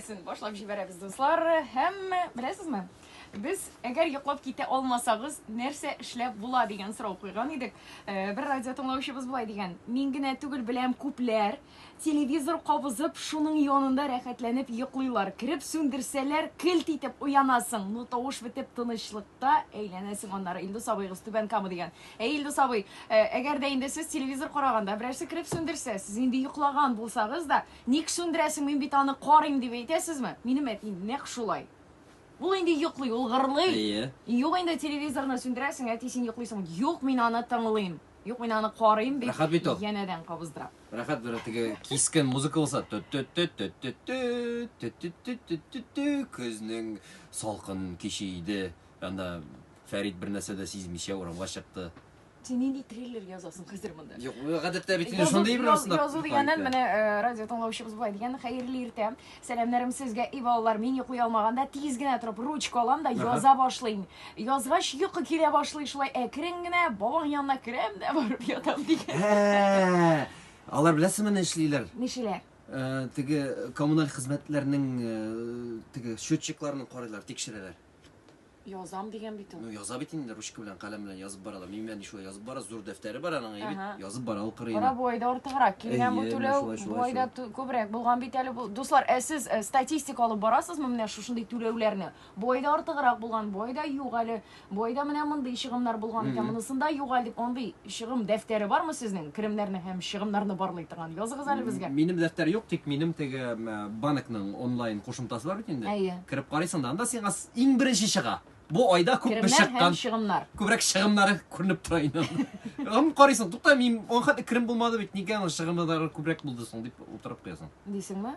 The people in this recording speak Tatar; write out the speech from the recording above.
Син башлап җибәрәбез, дуслар. Һәм беләсезме? Без әгәр йоклап китә алмасагыз, нәрсә эшләп була дигән сорау куйган идек. Э, бер радио тыңлаучыбыз булай дигән. Мин генә түгел беләм күпләр телевизор кабызып, шуның янында рәхәтләнеп йоклыйлар. Кереп сүндерсәләр, килт итеп уянасың. Ну тавыш бетеп тынычлыкта әйләнәсең аннары. Илдус абыегыз түбән кама дигән. Әй Илдус абый, э, әгәр дә инде сез телевизор караганда берәрсе кереп сүндерсә, сез инде йоклаган булсагыз да, Ник сүндерәсең, мин бит аны карыйм, дип әйтәсезме? Минем әтием нәкъ шулай. Ул инде йоклый, ул гырлый. Әйе. Юк инде, телевизорны сүндерәсең, әти, син йоклыйсыңмы? Юк, мин аны тыңлыйм. Юк, мин аны карыйм, дип, Рәхәт бит ул. янәдән кабыздыра. Рәхәт бер теге кискен музыка булса, тө-тө-тө-тө-тө-тө, тө-тө-тө-тө-тө-тө, көзнең салкын киче иде, анда Фәрит бернәрсә дә сизмичә урамга чыкты. Син нинди триллер язасың хәзер монда? Юк, гадәттә бит инде шундый бер язу, язу дигәннән менә э, радио тыңлаучыбыз болай дигән, хәерле иртә. Сәламнәрем сезгә, и балалар, мин йоклый алмаганда тиз генә торып ручка алам да яза башлыйм. Язгач йокы килә башлый шулай әкрен генә бабаң янына керәм дә барып ятам дигән. Ә, Алар беләсезме ни эшлиләр? Нишеләр? Э, теге коммуналь хезмәтләрнең э, теге счетчикларын карыйлар, тикшерәләр. Язам дигән бит ул. Ну, яза бит инде ручка белән, каләм белән язып бара да. Миңа ни шулай язып бара, зур дәфтәре бар аның, әйе бит? Ага. Язып бара ул кырыена. Кара буайда артыграк килгән бу Әйе, түләү, шулай, шулай, буайда шулай. ту- күбрәк булган бит әле бу. Дуслар, ә сез э, статистик алып барасызмы менә шушындый түләүләрне? Буайда артыграк булган, буайда юк әле, буайда менә мондый чыгымнар булган икән, Мгм. монысында юк әле дип андый чыгым дәфтәре бармы сезнең? Керемнәрне һәм чыгымнарны барлый торган. Языгыз әле безгә. Минем дәфтәр юк, тик минем теге м, банкның онлайн кушымтасы бар бит инде. Әйе. Кереп карыйсың да, анда сиңа с- Иң беренче чыга. Бу айда күп бер чыккан. Чыгымнар. Күбрәк чыгымнары күренеп тора инде. Ам карыйсың, тукта, мин аңа хәтле керем булмады бит, нигә аның чыгымнары күбрәк булды соң дип утырып куясың. Дисеңме?